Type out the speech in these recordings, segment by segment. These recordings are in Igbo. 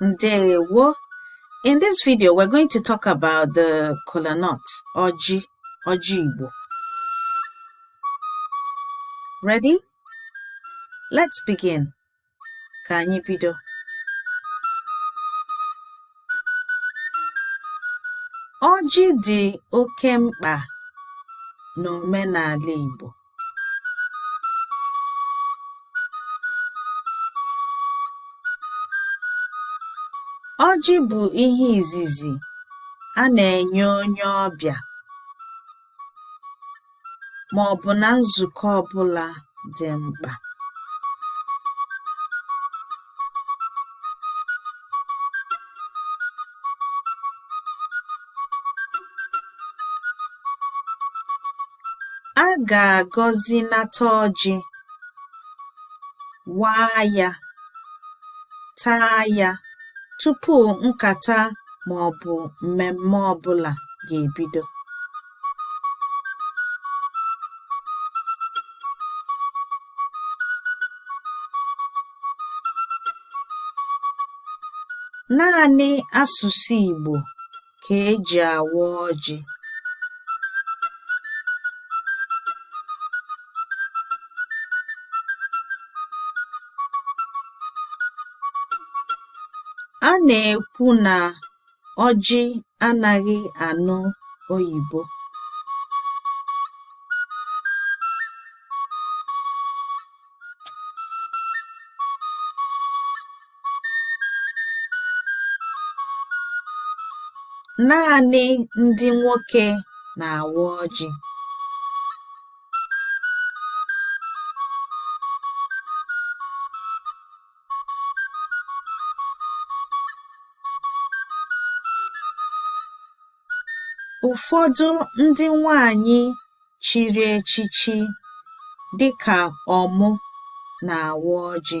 Ndewo. In this video, we're going to talk about the kola nut, ọjị, ọjị Igbo. Ready? Let's begin. Ka anyị bido. Ọjị dị oke mkpa n'omenala Igbo. Ọjị bụ ihe izizi a na-enye onye ọbịa ma ọ bụ na nzukọ ọ bụla dị mkpa. A ga-agọzi nata ọjị, waa ya, taa ya tupu nkata ma ọ bụ mmemme ọ bụla ga-ebido. Naanị asụsụ Igbo ka e ji awa ọjị. A na-ekwu na Ọjị anaghị anụ oyibo. Naanị ndị nwoke na-awa ọjị. Ụfọdụ ndị nwanyị chiri echichi dị ka Ọmụ na-awa ọjị.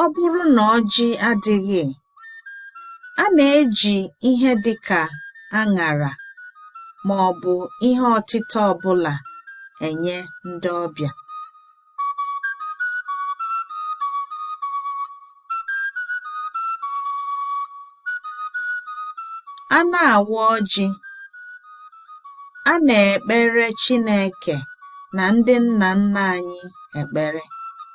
Ọ bụrụ na ọjị adịghị, a na-eji ihe dị ka aṅara ma ọ bụ ihe ọtịta ọ bụla enye ndị ọbịa. A na-awa ọjị, a na-ekpere Chineke na ndị nna nna anyị ekpere.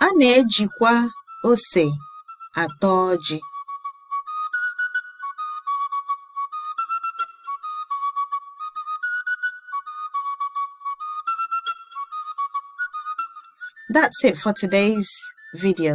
A na-ejikwa ose ata ọjị. That's it for today's video.